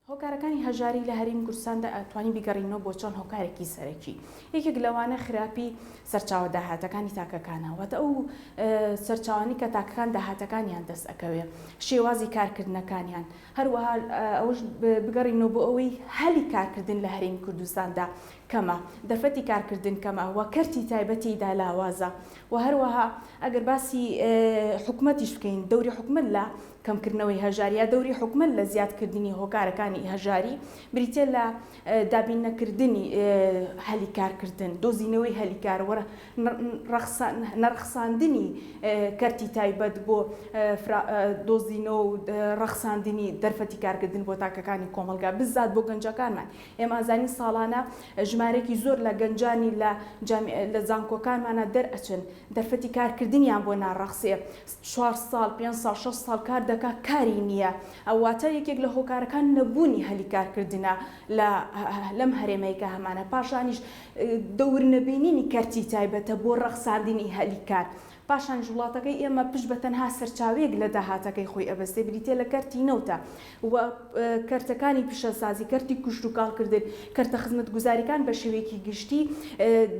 هۆکارەکانی هەژاری لە هەریم کوردستاندا ئەتوانی بیگەڕینەوە بۆ چەند هۆکارێکی سەرەکی یەکێک لەوانە خراپی سەرچاوە داهاتەکانی تاکەکانە واتە ئەو سەرچاوانی کە تاکەکان داهاتەکانیان دەست ئەکەوێ شێوازی کارکردنەکانیان هەروەها ئەوش بگەڕینەوە بۆ ئەوەی هەلی کارکردن لە هەریم کوردستاندا کەمە دەرفەتی کارکردن کەمە وە کەرتی تایبەتی دالاوازە و هەروەها ئەگەر باسی حکومەتیش بکەین دەوری حکومت لە کەمکردنەوەی هەژاری یا دەوری حکومەت لە زیادکردنی هۆکارەکانی هەژاری بریتیە لە دابین نەکردنی هەلی کارکردن، دۆزینەوەی هەلی کار و نەڕەخساندنی کەرتی تایبەت بۆ دۆزینەوە و ڕەخساندنی دەرفەتی کارکردن بۆ تاکەکانی کۆمەڵگا بزات بۆ گەنجەکانمان ئێمە ئازانی ساڵانە ژمارێکی زۆر لە گەنجانی لە لە زانکۆکانمانە دەرئەچن دەرفەتی کارکردنیان بۆ ناڕەخسێ چوار ساڵ پێنج ساڵ شەش ساڵ کار دەکات کاری نییە ئەو واتە یەکێک لە هۆکارەکان نەبوونی هەلی کارکردنە لە لەم هەرێمەی کە هەمانە پاشانیش دەور نەبینینی کەرتی تایبەتە بۆ ڕەخساندنی هەلی کار پاشانیش وڵاتەکەی ئێمە پشت بە تەنها سەرچاوەیەک لە داهاتەکەی خۆی ئەبەستێ بریتە لە کەرتی نەوتە و کەرتەکانی پیشەسازی کەرتی کوشت و کاڵکردن کەرتە خزمەتگوزاریکان بە شێوەیەکی گشتی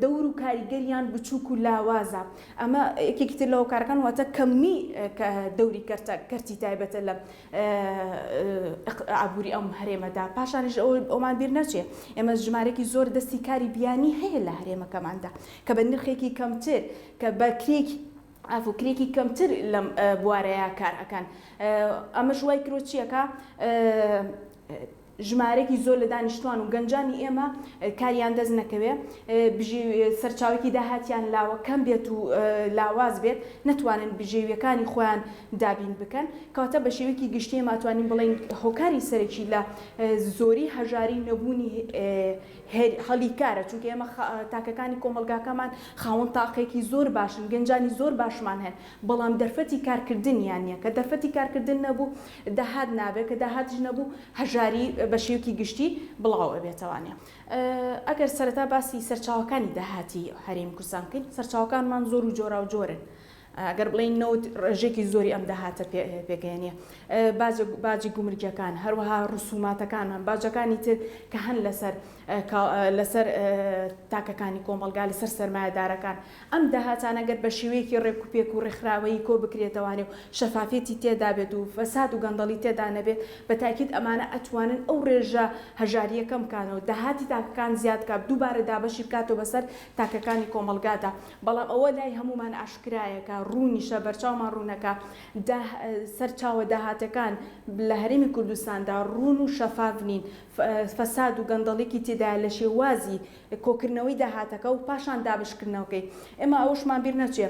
دەور و کاریگەریان بچووک و لاوازە ئەمە یەکێکی تر لە هۆکارەکان واتە کەمی دەوری کەرتە کەرتی تایبەتە لە ئابووری ئەم هەرێمەدا پاشانیش ئەو ئەومان بیر نەچێ ئێمە ژمارێکی زۆر دەستی کاری بیانی هەیە لە هەرێمەکەماندا کە بە نرخێکی کەمتر کە بەکرێکی ئەفو کرێکی کەمتر لەم بوارەیە کار ئەکەن ئەمەش وای کرۆچیەکە ژمارەیەکی زۆر لە دانیشتوان و گەنجانی ئێمە کاریان دەست نەکەوێ بژی سەرچاوەیەکی داهاتیان لاوە کەم بێت و لاواز بێت نەتوانن بژێویەکانی خۆیان دابین بکەن کەواتە بە شێوەیەکی گشتی ئێمە ئەتوانین بڵێین هۆکاری سەرەکی لە زۆری هەژاری نەبوونی هەلی کارە چونکە ئێمە تاکەکانی کۆمەڵگاکەمان خاوەن تاقێکی زۆر باشن گەنجانی زۆر باشمان هەن بەڵام دەرفەتی کارکردنیان نییە، کە دەرفەتی کارکردن نەبوو داهات نابێت، کە داهاتیش نەبوو هەژاری بە شێوەکی گشتی بڵاو ئەبێتەوانێ. ئەگەر سەرەتا باسی سەرچاوەکانی داهاتی هەرێمی کوردستان بکەین، سەرچاوەکانمان زۆر و جۆراوجۆرن، ئەگەر بڵێین نەوت ڕێژەیەکی زۆری ئەم داهاتە پێکدەهێنێ، باجی گومرگییەکان، هەروەها ڕسووماتەکانمان، باجەکانی تر کە هەن لەسەر تاکەکانی کۆمەڵگا، لەسەر سەرمایەدارەکان، ئەم داهاتانە گەر بە شێوەیەکی ڕێکوپێک و ڕێکخراوەیی کۆ بکرێتەوانێ و شەفافیەتی تێدا بێت و فەساد و گەندەڵی تێدا نەبێت، بە تاکید ئەمانە ئەتوانن ئەو ڕێژە هەژاریە کەم کانەوە، داهاتی تاکەکان زیاد کا، دووبارە دابەشی بکاتەوە بەسەر تاکەکانی کۆمەڵگادا. بەڵام ئەوە لای هەموومان ئاشکرایە کا، ڕوونیشە، بەرچاومان ڕوونە کا، دا، سەرچاوە داهاتەکان لە هەرێمی کوردستاندا ڕوون و شەفاف نین، فەساد و گەندەڵیەکی تێدایە لە شێوازی کۆکردنەوەی داهاتەکە و پاشان دابشکردنەوەکەی. ئێمە ئەوەشمان بیر نەچێ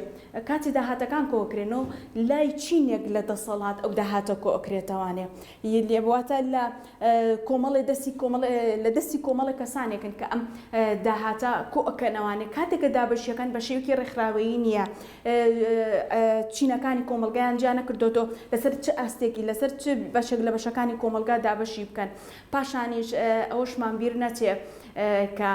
کاتێ داهاتەکان کۆکرێن و لای چینێک لە دەسەڵات ئەو داهاتە کۆکرێتەوانێ ی واتە لە کۆمەڵێ دەستی کۆمەڵێ لە دەستی کۆمەڵێ کەسانێکن کە ئەم داهاتە کۆکەنەوانێ کاتێ کە دابەشیەکەن بە شێوەکی ڕێکخراوەیی نیە چینەکانی کۆمەڵگایان جیا نەکردۆتۆ لەسەر چ ئاستێکی لەسەر چ بەشێک لە بەشەکانی کۆمەڵگا دابەشی بکەن. پاشانیش ئەوەشمان بیر نەچێ کە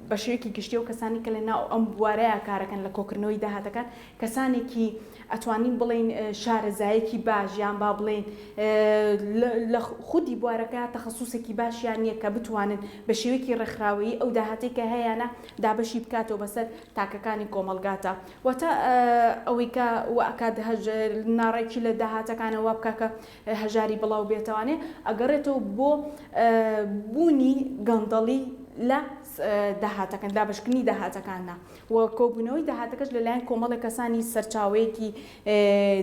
بە شێوەیەکی گشتی و کەسانی کە لە ناو ئەم بوارەیە کارەکەن لە کۆکردنەوەی داهاتەکان کەسانێکی ئەتوانین بڵین شارەزایەکی باش یان با بڵین لە خودی بوارەکە تەخصوسێکی باشیان نییە کە بتوانن بە شێوەیەکی ڕێکخراوەیی ئەو داهاتی کە هەیەە دابەشی بکاتەوە بەسەر تاکەکانی کۆمەلگاتە واتە ئەوەی کە ئەکات هەژێر ناڕێکی لە داهاتەکانەوە بکە کە هەژاری بڵاو بێتەوانێ ئەگەڕێتەوە بۆ بوونی گەندەڵی لە داهاتەکان دابەشکردنی داهاتەکاندا و کۆبوونەوەی داهاتەکەش لەلایەن کۆمەڵە کەسانی سەرچاوەیەکی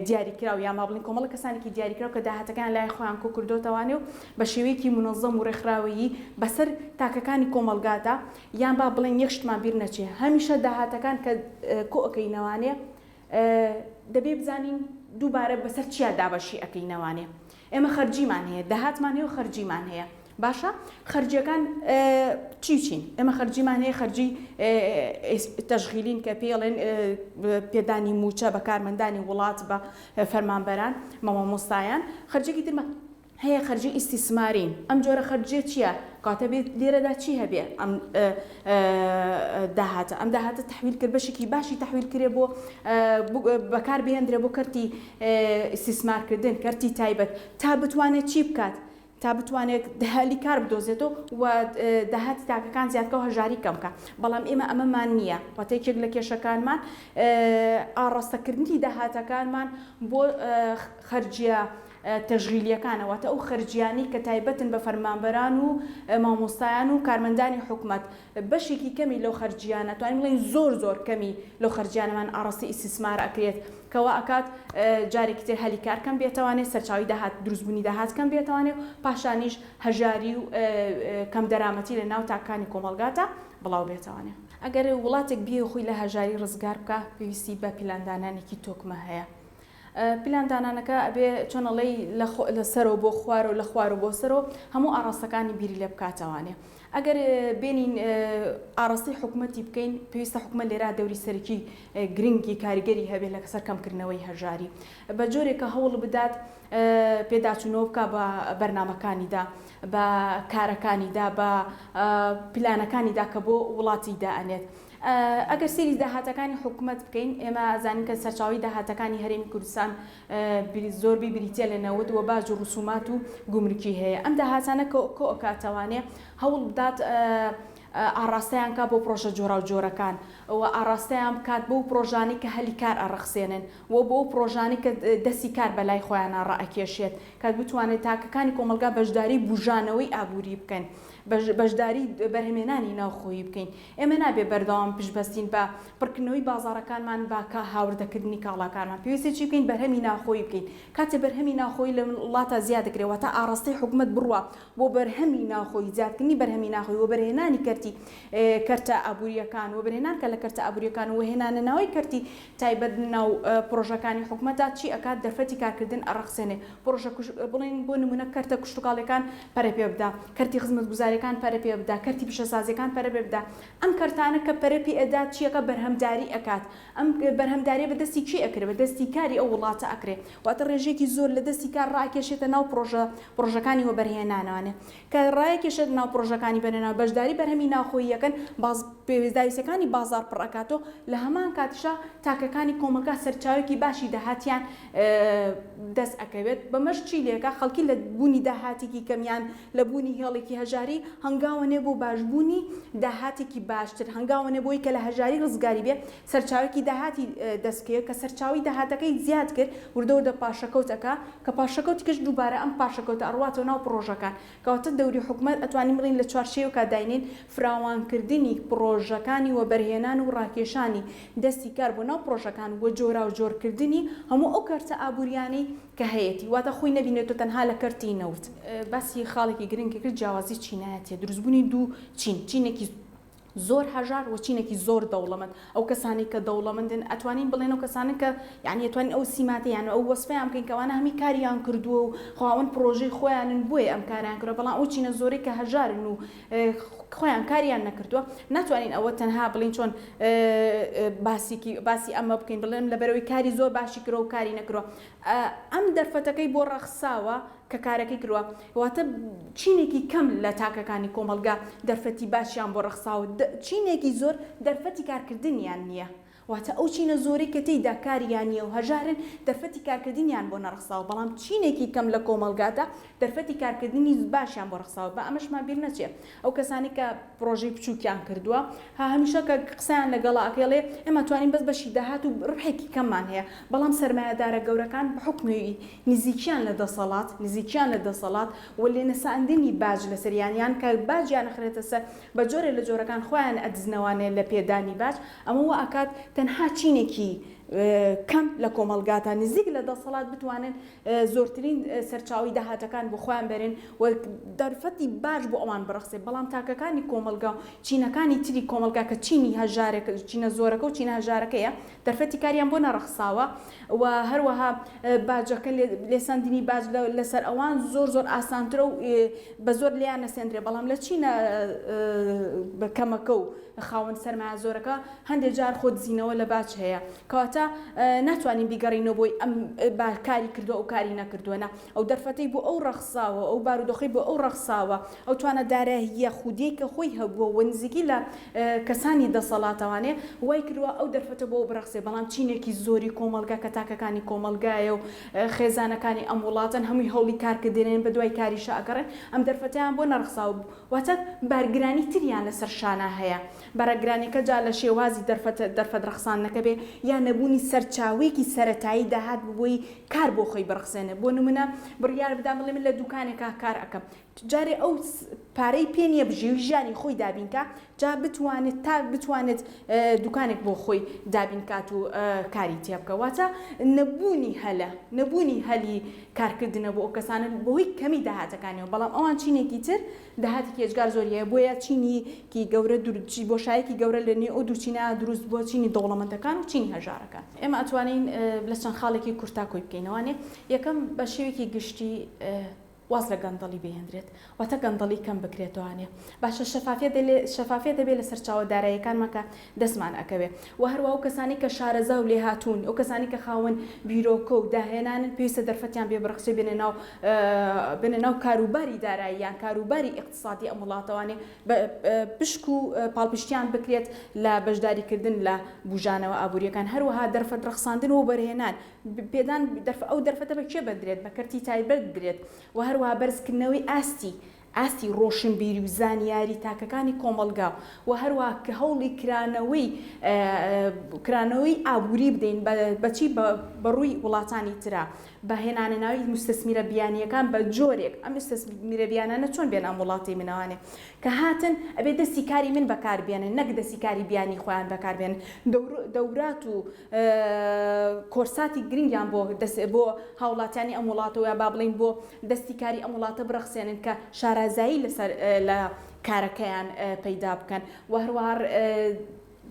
دیاریکراو یا ما بڵین کۆمەڵە کەسانێکی دیاریکراو کە داهاتەکان لای خۆیان کۆ کردوتەوانێ و بە شێوەیەکی منەظەم و ڕێکخراوەیی بەسەر تاکەکانی کۆمەڵگادا یان با بڵێن یەک شتمان بیر نەچێ هەمیشە داهاتەکان کە کۆ ئەکەینەوانێ دەبێ بزانین دووبارە بەسەر چیا دابەشی ئەکەینەوانێ ئێمە خەرجیمان هەیە داهاتمان هەیە و خەرجیمان هەیە باشە خەرجیەکان چی چین ئێمە خەرجیمان هەیە خەرجی تەژغیلین کە پێڵێن پێدانی موچە بە کارمەندانی وڵات بە فەرمانبەران مامۆمۆستایان خەرجێکی ترمە هەیە خەرجی ئیستیسماری ئەم جۆرە خەرجیە چیە کاتە بێت لێرەدا چی هەبێ ئەم داهاتە ئەم داهاتە تحویل کرد بەشێکی باشی تحویل کرێ بۆ بەکار بهێندرێ بۆ کەرتی ئیسیسمارکردن کەرتی تایبەت تا بتوانێت چی بکات تا بتوانێت دهلی کار بدۆزێتەوە و داهاتی تاکەکان زیادکە و هەژاری کەمکە بەڵام ئێمە ئەمەمان نییە وەتێکێک لە کێشەکانمان ئاڕاستەکردنی داهاتەکانمان بۆ خەرجیە تەشغیلیەکانە، واتە ئەو خەرجیانەی کە تایبەتن بە فەرمانبەران و مامۆستایان و کارمەندانی حکومەت، بەشێکی کەمی لەو خەرجیانە، توانین بڵێین زۆر زۆر کەمی لەو خەرجیانەمان ئاڕاستەی ئیستیسمار ئەکرێت، کە وا ئەکات جارێکی تر هەلی کار کەم بێتەوانێ، سەرچاوەی داهات دروست بوونی داهات کەم بێتەوانێ و پاشانیش هەژاری و کەم دەرامەتی لە ناو تاکانی کۆمەڵگاتا بڵاو بێتەوانێ. ئەگەر وڵاتێک بیەوێ خۆی لە هەژاری ڕزگار بکا، پێویستی بە پیلاندانانێکی تۆکمە هەیە. پلان دانانەکە ئەبێ چۆن ئەڵێی لە خۆ لە سەرەوە بۆ خوارەوە لە خوارەوە بۆ سەرەوە هەموو ئاڕاستەکانی بیری لێ بکاتەوانێ ئەگەر بێنین ئاڕاستەی حکوومەتی بکەین پێویستە حکوومەت لێرا دەوری سەرەکی گرنگی کاریگەری هەبێ لە کەسەر کەمکردنەوەی هەژاری بە جۆرێک کە هەوڵ بدات پێداچوونەوە بکە بە بەرنمەکانیدا بە کارەکانیدا بە پلانەکانیدا کە بۆ وڵاتی دائەنێت ئەگەر سەیری داهاتەکانی حکومەت بکەین ئێمە ئەزانین کە سەرچاوەی داهاتەکانی هەرێمی کوردستان زۆربەی بریتیە لە نەوت و باج و ڕسومات و گومرکی هەیە ئەم داهاتانە کۆئۆکا توانێ هەوڵ بدات ئاڕاستەیان کا بۆ پڕۆژە جۆراوجۆرەکان و ئاڕاستەیان بکات بەو پڕۆژانەی کە هەلی کار ئەڕەخسێنن و بۆ ئەو پڕۆژانەی کە دەستی کار بە لای خۆیانا ڕائەکێشێت کە بتوانێت تاکەکانی کۆمەڵگا بەشداری بوژانەوەی ئابووری بکەن بەشداری بەرهەمێنانی ناوخۆیی بکەین. ئێمە نابێ بەردەوام پشتبەستین بە پڕکردنەوەی بازاڕەکانمان بە کا هاوردەکردنی کاڵاکانمان، پێویستە چی بکەین بەرهەمی ناوخۆیی بکەین، کاتێ بەرهەمی ناوخۆیی لە وڵاتە زیاد دەکرێ واتە ئاڕاستەی حکومەت بڕوا بۆ بەرهەمی ناوخۆیی زیادکردنی بەرهەمی ناخۆیی وەبەرهێنانی کەرتی کەرتە ئابوورییەکان وەبەرهێنان کە لە کەرتە ئابوورییەکان وهێنانەناوەی کەرتی تایبەت ناو پرۆژەکانی حکومەتدا چی ئەکات دەرفەتی کارکردن ئەڕەخسێنێ پرۆژە کوژ بڵێن بۆ نمونە کەرتە کشتوکاڵیەکان پەرە پێ بدا کەرتی خزمەتگوزاریەکان پەرە پێ بدا کەرتی پیشەسازیەکان پەرە پێ بدا ئەم کەرتانە کە پەرە پێ ئەدات چی ئەکات بەرهەمداری ئەکات ئەم بەرهەمداریە بە دەستی کێ ئەکرێ بە دەستی کاری ئەو وڵاتە ئەکرێ واتە ڕێژەیەکی زۆر لە دەستی کار ڕائەکێشێتە ناو پرۆژە پرۆژەکانی وەبەرهێنانانێ کە ڕایەکێشە لەناو پڕۆژەکانی بەرێنە بەشداری بەرهەمی ناوخۆییەکەن باز پێویستداویستیەکانی بازاڕ پڕئەکاتەوە لەهەمان کاتیشا تاکەکانی کۆمەلگا سەرچاوێکی باشی داهاتیان دەست ئەکەوێت بەمەش چی لەکە خەلکی لە بونی داهاتیکی کەم یان لە بونی هێڵیکی هەژاری هەنگاوەنێ بۆ باشبونی داهاتیکی باشتر هەنگاوەنێ بۆی کە لە هەژاری رزگاری بێ سەرچاوەیەکی داهاتی دەست کرد کە سەرچاوەی داهاتەکەی زیاد کرد وردەوردە پاشەکەوت ئەکا کە پاشەکەوتی کەش دووبارە ئەم پاشەکەوتە ئەڕواتەوە ناو پڕۆژەکان کەواتە دەوری حکومەت ئەتوانین بڵێین لە چوارچێوەکا داینێن فراوانکردنی پڕۆژەکانی وەبەرهێنان و ڕاکێشانی دەستی کار بۆ ناو پڕۆژەکان وە جۆراو جۆر کردنی هەموو ئەو کەرتە ئابووریانەی کە هەیەتی واتە خۆی نەبینێتۆ تەنها لە کەرتی نەوت. باسی خاڵێکی گرنگی کرد جیاوازی چینایەتیە دروستبوونی دوو چین چینێکی. زۆر هەژار و چینێکی زۆر دەوڵەمەند ئەو کەسانەی کە دەوڵەمەندن ئەتوانین بڵێن ئەو کەسانن کە یعنی ئەتوانین ئەو سیماتە یان ئەو وەسفەیان بکەین کەوانە هەمی کاریان کردووە و خاوەن پڕۆژەی خۆیانن بۆیە ئەم کاریان کردوە بەڵام ئەو چینە زۆرەی کە هەژارن و خۆیان کاریان نەکردووە ناتوانین ئەوە تەنها بڵین چۆن باسیکی باسی ئەمە بکەین بڵێم لەبەرەوەی کاری زۆر باشی کرۆ و کاری نەکرۆ ئەم دەرفەتەکەی بۆ ڕەخساوە کە کارەکەی کردوە واتە چینێکی کەم لە تاکەکانی کۆمەڵگا دەرفەتی باشیان بۆ ڕەخساوە دە چینێکی زۆر دەرفەتی کارکردنیان نیە واتە ئەو چینە زۆرەی کە تێیدا کاریان نیە و هەژارن دەرفەتی کارکردنیان بۆ نەڕەخساوە بەڵام چینێکی کەم لە کۆمەڵگادا دەرفەتی کارکردنی باشیان بۆ ڕەخساوە با ئەمەشمان بیر نەچێ ئەو کەسانەی کە پرۆژەی بچوکیان کردووە هە هەمیشە کە قسەیان لەگەڵا ئەکەی ئەڵێ ئێمە توانین بەس بەشی داهات و ربحێکی کەممان هەیە بەڵام سەرمایەدارە گەورەکان بەحوکمی نزیکیان لە دەسەڵات نزیکیان لە دەسەڵات و لێنەساندنی باج لەسەر یان یان کە باجیان ئەخرێتە سەر بە جۆرێ لە جۆرەکان خۆیان ئەدزنەوانێ لە پێدانی باج ئەمە وا ئەکات تەنها چینێکی کەم لە کۆمەڵگا تا نزیک لە دەسەڵات بتوانن زۆرترین سەرچاوەی داهاتەکان بۆ خۆیان بەرن و دەرفەتی باش بۆ ئەوان بڕەخسێ، بەڵام تاکەکانی کۆمەڵگا و چینەکانی تری کۆمەڵگا کە چینی هەژارە، چینە زۆرەکە و چینە هەژارەکەیە، دەرفەتی کاریان بۆ نەڕەخساوە و هەروەها باجەکە، لێسەندنی باج لەسەر ئەوان زۆر زۆر ئاسانترە و بە زۆر لێیان نەسەندرێ، بەڵام لە چینە کەمەکە و خاوەن سەرمایە زۆرەکە هەندێ جار خۆ دزینەوە لە باج هەیە کەواتە ناتوانین بیگەڕینەوە بۆی ئەم با کاری کردوە ئەو کاری نەکردوە نا ئەو دەرفەتەی بۆ ئەو ڕەخساوە ئەو بارودۆخەی بۆ ئەو ڕەخساوە ئەو توانە داراییە خودیەی کە خۆی هەبووە و نزیکی لە کەسانی دەسەڵاتەوانێ وای کردوە ئەو دەرفەتە بۆ ئەو بڕەخسێ بەڵام چینێکی زۆری کۆمەڵگا کە تاکەکانی کۆمەڵگایە و خێزانەکانی ئەم وڵاتەن هەمووی هەوڵی کار کردێنێن بە دوای کاریشا ئەگەڕێن ئەم دەرفەتەیان بۆ نەڕخساوە واتە بارگرانی تریان لەسەر شانا هەیە بەرەگرانیەکە جا لە شێوازی دەرفەت رەخساندنەکە بێ یا نەبوونی سەرچاوەیەکی سەرەتایی داهات ببۆی کار بۆ خۆی بڕخسێنێ بۆ نمونە بڕیار بدا بڵێ من لە دوکانێکا کار ئەکەم جارێ ئەو پارەی پێ نیە بژی و ژیانی خۆی دابین کا جا بتوانێت تا بتوانێت دوکانێک بۆ خۆی دابین کات و کاری تێ بکە واتە نەبوونی هەلە نەبوونی هەلی کارکردنە بۆ ئەو کەسانە بەهۆی کەمی داهاتەکانیەوە بەڵام ئەوان چینێکی تر داهاتێکی ئێجگار زۆر هەیە، بۆیە چینی کی گەورە دور بۆشایەکی گەورە لە نێو ئەو دوو چینە دروست بووە، چینی دەوڵەمەندەکان و چینی هەژارەکان. ئێمە ئەتوانین لە چەند خاڵێکی کورتا کۆی بکەینەوە. وانیە؟ یەکەم، بە شێوەیەکی گشتی واز لە گەندەڵی بهێندرێت، واتە گەندەڵی کەم بکرێتەوە. وانیە؟ باشە شەفافیەت دەلێ شەفافیەت دەبێت لە سەرچاوە داراییەکانمان کە دەستمان ئەکەوێ وە هەروا ئەو کەسانەی کە شارەزا و لێهاتوون ئەو کەسانەی کە خاوەن بیرۆکە و داهێنانن پێویستە دەرفەتیان پێ بڕەخسێ بێنە ناو بێنە ناو کاروباری داراییان کاروباری ئیقتسادی ئەم وڵاتەوانێ پشک و پاڵپشتیان بکرێت لە بەشداری کردن لە بوژانەوە ئابوریەکان هەروەها دەرفەت ڕەخساندن و وەبەرهێنان پێدان ئەو دەرفەتە بە کێ بەدرێت بە کەرتی تایبەت بدرێت وە هەروەها بەرزکردنەوەی ئاستی ئاستی ڕۆشنبیری و زانیاری تاکەکانی کۆمەڵگا و هەروەها کە هەوڵی کرانەوەی کرانەوەی ئابووری بدەین بە چی بە ڕووی وڵاتانی ترا بە هێنانە ناوی موستەسمیرە بیانییەکان بە جۆرێک ئەم موستەسمیرە بیانانە چۆن بێن ئەم وڵاتی منەوانێ کە هاتن ئەبێ دەستی کاری من بەکار بێنن نەک دەستی کاری بیانی خۆیان بەکار بێنن دەورات و کۆرساتی گرنگیان بۆ دەست بۆ هاوڵاتیانی ئەم وڵاتەوە یا با بڵێین بۆ دەستی کاری ئەم وڵاتە بڕەخسێنن کە شارازایی لەسەر لە کارەکەیان پەیدا بکەن و هەروەها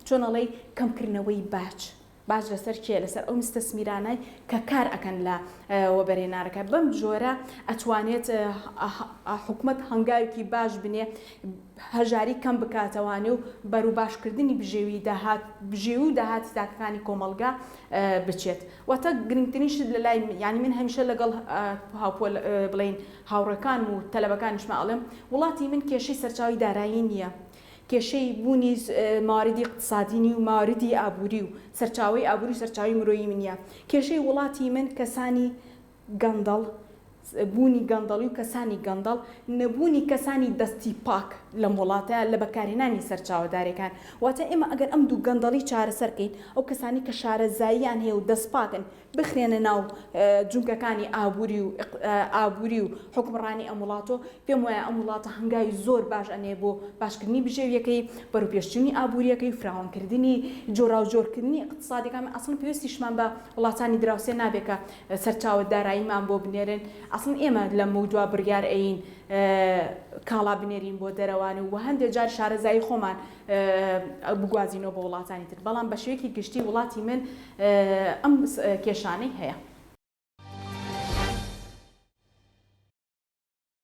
چۆن ئەڵێی کەمکردنەوەی باج باج لەسەر کێ لەسەر ئەو مستەسمیرانای کە کار ئەکەن لە وەبەرێنارەکە بەم جۆرە ئەتوانێت حکومەت هەنگاوێکی باش بنێ هەژاری کەم بکاتەوانێ و بەروباشکردنی بژێوی داهات بژێوی و داهاتی تاکەکانی کۆمەڵگا بچێت واتە گرنگترین شت لەلای من یانی من هەمیشە لەگەڵ هاوپۆل بڵین هاوڕێکانم و تەلەبەکانیشما ئەڵێم وڵاتی من کێشەی سەرچاوی دارایی نییە کێشەی بوونی ماردی اقتصادینی و ماردی ئابووری و سەرچاوی ئابووری و سەرچاوی مرۆیی منە کێشەی وڵاتی من کەسانی گەندەڵ، بوونی گەندەڵی و کەسانی گەندەڵ، نەبوونی کەسانی دەستی پاک لەم وڵاتە لە بەکارهێنانی سەرچاوە دارێکان، واتە ئێمە ئەگەر ئەم دوو گەندەڵی چارەسەر کەین ئەو کەسانەی کە شارەزاییان هەیە و دەست پاکن بخرێنە ناو جومگەکانی ئابووری و ئابووری و حوکمڕانی ئەم وڵاتۆ پێم وایە ئەم وڵاتە هەنگاوی زۆر باش ئەنێ بۆ باشکردنی بژێویەکەی بەرەو پێشچوونی ئابووریەکەی و فراوان کردنی جۆراوجۆرکردنی ئیقتسادەکان ئەسڵەن پێویستیشمان بە وڵاتانی دراوسێ نابێ کە سەرچاوە داراییمان بۆ بنێرن ئەسڵەن ئێمە لەمەودوا بڕیار ئەیین کاڵا بنێرین بۆ دەرەوان و هەندێ جار شارەزایی خۆمان بگوازینەوە بۆ وڵاتانی تر بەڵام بە شێوەیەکی گشتی وڵاتی من ئەم کێشانەی هەیە.